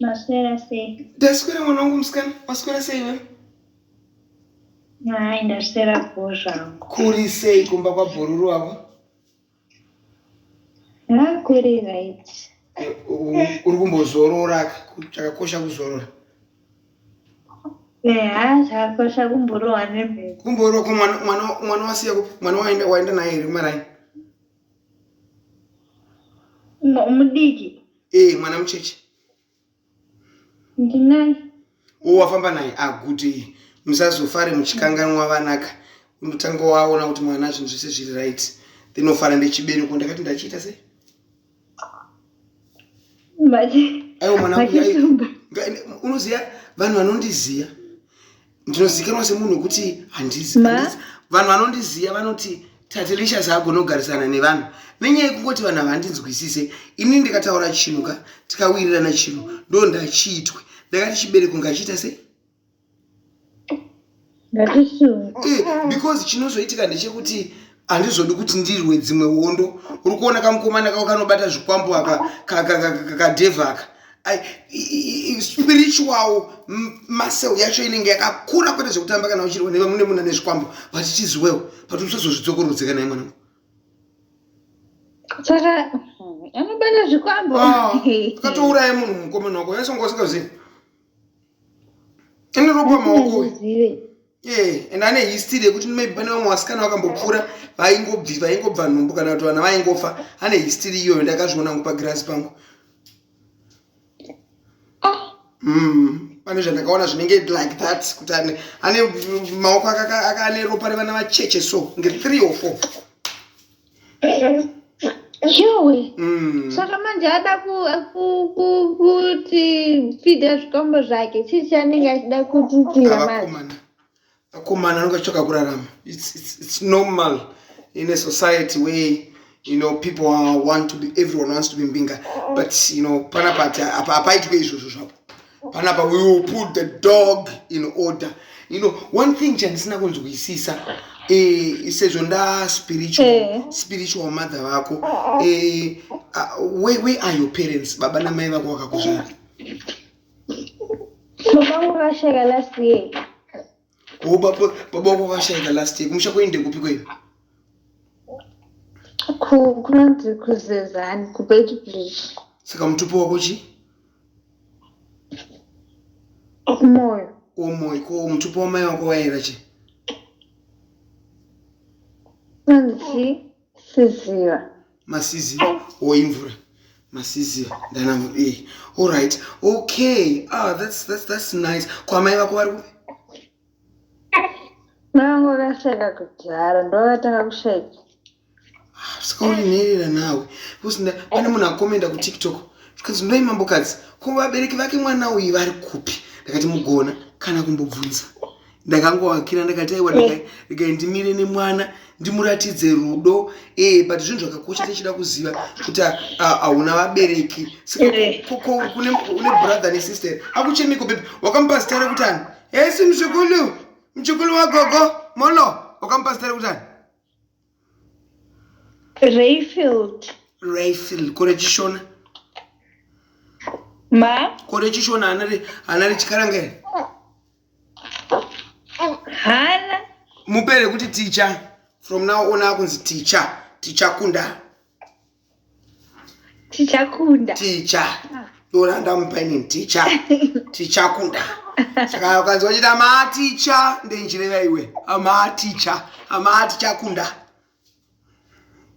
Maswera sei? Ndaswera mwana wangu musikana. Waswera sei wewe? Hai, ndaswera bho zvangu. Kuri sei kumba kwabhururu avo? Ha, kuri right. Eh, u- Uri kumbozorora ka? Chakakosha kuzorora. Eh, ha, zvakakosha kumborohwa nemhepo. Kumbozorora ko mwana mwana mwana wasiya kupi? Mwana waenda waenda naye here maraini? mudiki ee mwana mucheche ndinai uwo wafamba naye agute musazofare muchikanganwa vanaka unotanga waona kuti mwana zvinhu zvese zviri right then ofara ndechibereko ndakati ndachiita sei machi aiwa mwana wangu, ai- machisumba nga- unoziva vanhu vanondiziva ndinozikanwa semunhu wekuti handizi vanhu vanondiziva vanoti tatelisha zaagonogarisana nevanhu nenyaya yekungoti vanhu havandinzwisise ini ndikataura chinhu ka tikawirirana chinhu ndo ndachiitwe ndakati chibereko ngachiita sei eh, because chinozoitika ndechekuti handizvodi kuti ndirwe dzimwe hondo uri kuona kamukomana kako kanobata zvikwambo aka kadhevha aka spiritual muscle yacho inenge yakakura kwete zvekutamba kana uchirwa nevamwe nemunhu ane zvikwambo but it is well but usazozvidzokorodze kana imwana saka hmm, anobata zvikwambo ah, akatouraya munhu mukomana wako yasonga usingazivi ine ropa maoko Eh, and ane history yekuti maybe pane vamwe vasikana vakambopfuura vaingobvi vaingobva nhumbu kana kuti vana vaingofa ane history iyoyo ndakazviona ngu pagirasi pangu mm, pane zvandakaona zvinenge like that kuti ane ane maoko aka ane ropa revana vacheche so nge three or four yowe mm. saka manje ada kuti fidha zvikombo zvake chii chanenge achida kutiitira manje akomana anenge achitsvaka kurarama it's normal in a society where you know people want to be everyone wants to be mbinga but you know panapa hapaitwe izvozvo zvapo panapa we will put the dog in order you know one thing chandisina kunzwisisa eh, sezvo nda spiritual eh. spiritual mother vako eh, uh, where, where are your parents baba namai vako vakakuzvara babangu vasheka last year Oh, baba baba wako vakashaika last year kumusha kwenyu ndekupi kwenyu Ku- kunonzi kuzezani kubedbridge saka mutupo wako chi kumoyo omoyo ko mutupo wamai wako waiva chi kunonzi siziva masiziva or oh, imvura masiziva ndanamo e eh, all right okay ah, that's, that's, that's nice kwamai vako vari kupi nango vashaika kudhara ndovatanga kushaika ah, saka urinherera nawe usinda pane munhu akomenda kutiktok zvikanzi ndoi mambokadzi ko vabereki vake mwana uyu vari kupi ndakati mugona kana kumbobvunza ndakangowakira ndakati aiwa regai ndimire nemwana ndimuratidze rudo ee but zvinhu zvakakosha tichida kuziva kuti hauna vabereki une brother nesister akuchemiko bebi wakamupa zita rekuti ani hesi mchukulu mchukulu wagogo molo wakamupa zita rekuti ani Rayfield. Rayfield. Kore chishona. Ma? Kore chishona hanari hanari chikaranga here? Hana. Mupere kuti ticha. From now on akunzi ticha. Ticha kunda. tichakunda ticha dora ndamupa inini ticha tichakunda saka ukanzi wachita maticha ndenjireva iwe amaticha amatichakunda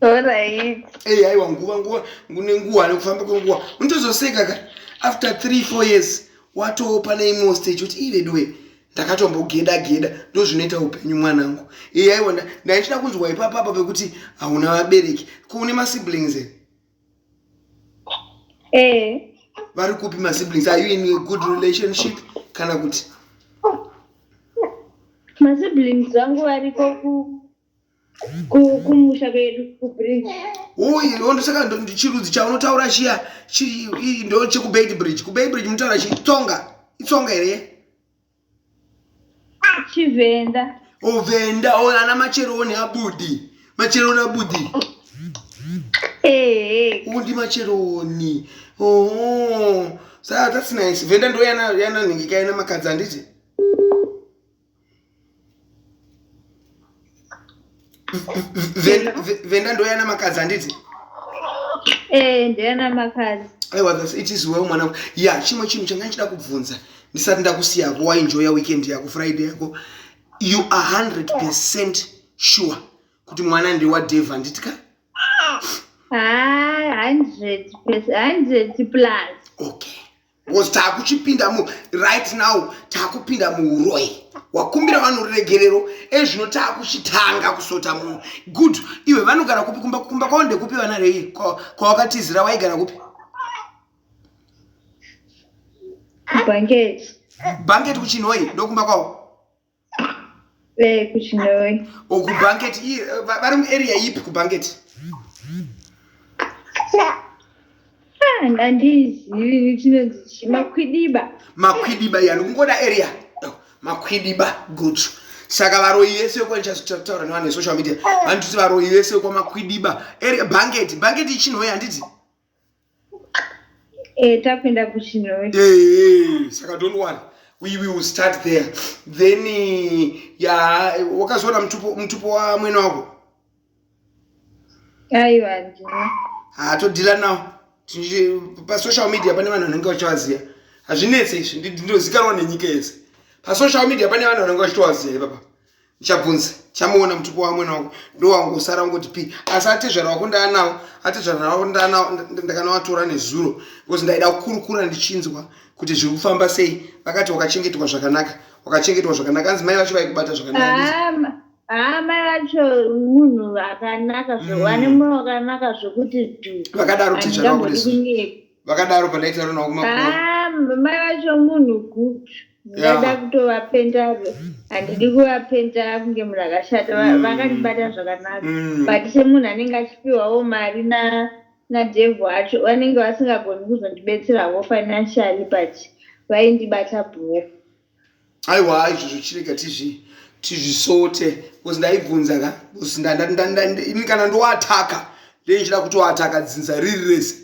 orit eyi aiwa nguva nguva ngune nguva nekufamba kwenguva unotozoseka ka after three four years watoo pane imwewo stage kuti ii veduwe ndakatombogeda geda ndozvinoita upenyu mwanangu iye aiwa ndaichida kunzwa ipapapa pekuti hauna vabereki ko une masiblings e eh. vari kupi masiblings are you in a good relationship kana kuti masiblings angu variko kumusha kwedu kubridge uyi ndosaka chirudzi chaunotaura chiya ndo chekubait bridge kubait bridge munotaura chi tsonga itsonga here ah, chivenda ovenda oh, ona oh, ana macheroni abudi macheroni abudi undi macheroni oh, sa that's nice venda ndo yana nhingi kaina makadzi handiti venda ndoyana makadzi handiti eh, ndoyana makadzi aiwa it is well mwana ya chimwe chinhu changa ndichida kubvunza ndisati ndakusiya ko wainjoya weekend yako friday yako you are 100 percent sure kuti mwana ndewadeva handiti ka ah, 100 plus okay because taakuchipinda mu right now taakupinda muuroyi wakumbira vanhu ruregerero ezvino taakuchitanga kusota munhu good iwe vanogara kupi kumba kumba kwavo ndekupi vana rei kwawakatizira waigara kupi bangeti kuchinoi ndokumba kwavo Eh, kuchinoi o oh, kubanket eh, vari muarea ipi kubanket ndandizivi chinonzi chi makwidiba makwidiba ya ndikungoda area oh, makwidiba good saka varoyi vese vekwachazotaura nevanhu vesocial media vandiuti varoyi vese vekwamakwidiba area banket banket ichinhoyi handiti Eh, tapinda kuchinhoyi Eh, saka don't worry we will start there then eh, ya wakazoona mutupo mutupo wamwene wako aiwa ndino hatodhila nawo Tiri- pasocial media pane vanhu vanenge vachivaziva hazvinetse izvi ndi- ndinozikanwa nenyika yese pasocial media pane vanhu vanenge vachitovaziva ipapa chabvunzi chamuona mutupo wamwena wangu ndowangu usara ungoti pi asi atezvara wako ndaanawo atezvara wako ndaanawo ndakanovatora nezuro because ndaida kukurukura ndichinzwa kuti zviri kufamba sei vakati wakachengetwa zvakanaka wakachengetwa zvakanaka anzi mai vacho vaikubata zvakanaka haa mai vacho munhu akanaka zvane mm. moyo wakanaka zvekuti vakadaro tezvara wako nezuro vakadaro pandaitaura navo kumakore ah, mai vacho munhu good ndada kutovapenda handidi kuvapenda kunge munhu akashata mm. vakandibata zvakanaka mm. but semunhu anenge achipiwawo mari na nadevhu acho vanenge vasingagoni kuzondibetserawo financially but vaindibata bhoo aiwa izvozvo chirega tizvi tizvisote because ndaibvunza ka because nda- nda- nda- nda- ini kana ndoataka ndeichida kutoataka dzinza riri rese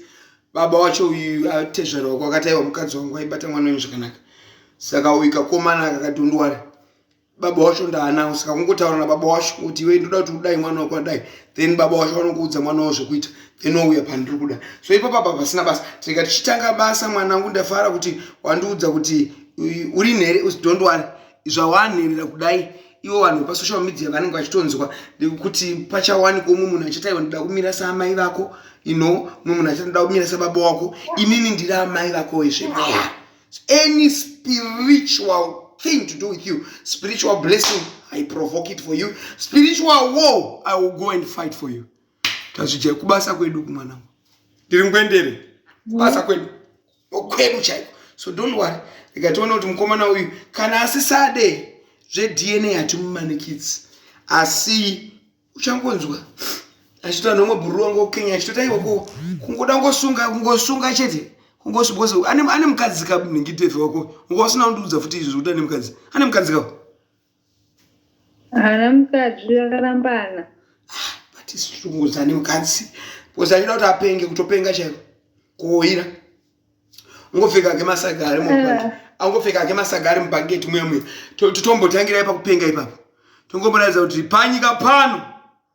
baba wacho uyu atezvara wako akati aiwa mukadzi wangu aibata mwana wenyu zvakanaka saka uyu kakomana kakadhondwara baba wacho ndaanawo saka kungotaura nababa wacho kuti iwe ndoda kuti udai mwana wako adai then baba wacho vanokuudza mwana wavo zvekuita then wouya pandiri kuda so ipapa pa pasina basa tika tichitanga basa mwana wangu ndafara kuti wandiudza kuti uri nhere don't worry zvawanherera kudai ivo vanhu vepasocial media vanenge vachitonzwa kuti pachawanikwa umwe munhu achati aiwa ndoda kumira saamai vako you know umwe munhu achati ndoda kumira sababa wako inini ndiri amai vako wezvemweya any spiritual thing to do with you spiritual blessing i provoke it for you spiritual war i will go and fight for you tazvijai kubasa kwedu kumwanangu ndiri mukuendere kubasa kwedu kwedu chaiko so don't worry ikationa kuti mukomana uyu kana asisade zvedna hatimumanikidzi asi uchangonzwa achitoa nomwe bhuru wangu kenya achitota iwo ko kungoda kungosunga kungosunga chete kungosubosa ane mukadzi kabningitefe wako unga usina kundiudza futi izvo zvekuti ane mukadzi ane mukadzi kako Haana mukadzi akarambana. But zvirumudza nemukadzi. Because achida kuti apenge kutopenga chaiko. Kuoira. Ungopfeka ke masaga ari mubhageti. Eh. Angopfeka ke masaga ari mubhageti muya muya. Tombotangira ipa kupenga ipapo. Tongomuratidza kuti panyika pano.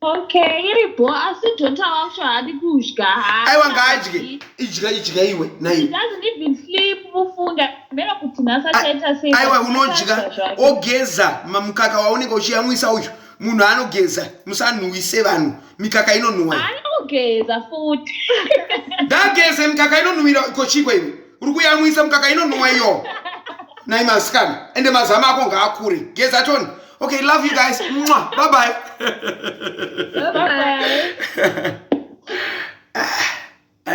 Okay, iri bho asi dhota wacho haadi kudya. Aiwa ngaadye. Idya idya iwe naiwe. He doesn't even sleep mufunga. Mera kuti nhasi achaita sei? Aiwa unodya ogeza mamukaka waunenge uchiyamwisa uyu. Munhu anogeza musanhuwise vanhu mikaka inonhuwa. Anogeza futi. Ndageze mikaka inonhuwira kochikwa iwe. Uri kuyamwisa mikaka inonhuwa iyo. Nai masikana ende mazama ako ngaakure. Geza toni. Okay, love you guys. Mwah. Bye bye. bye bye.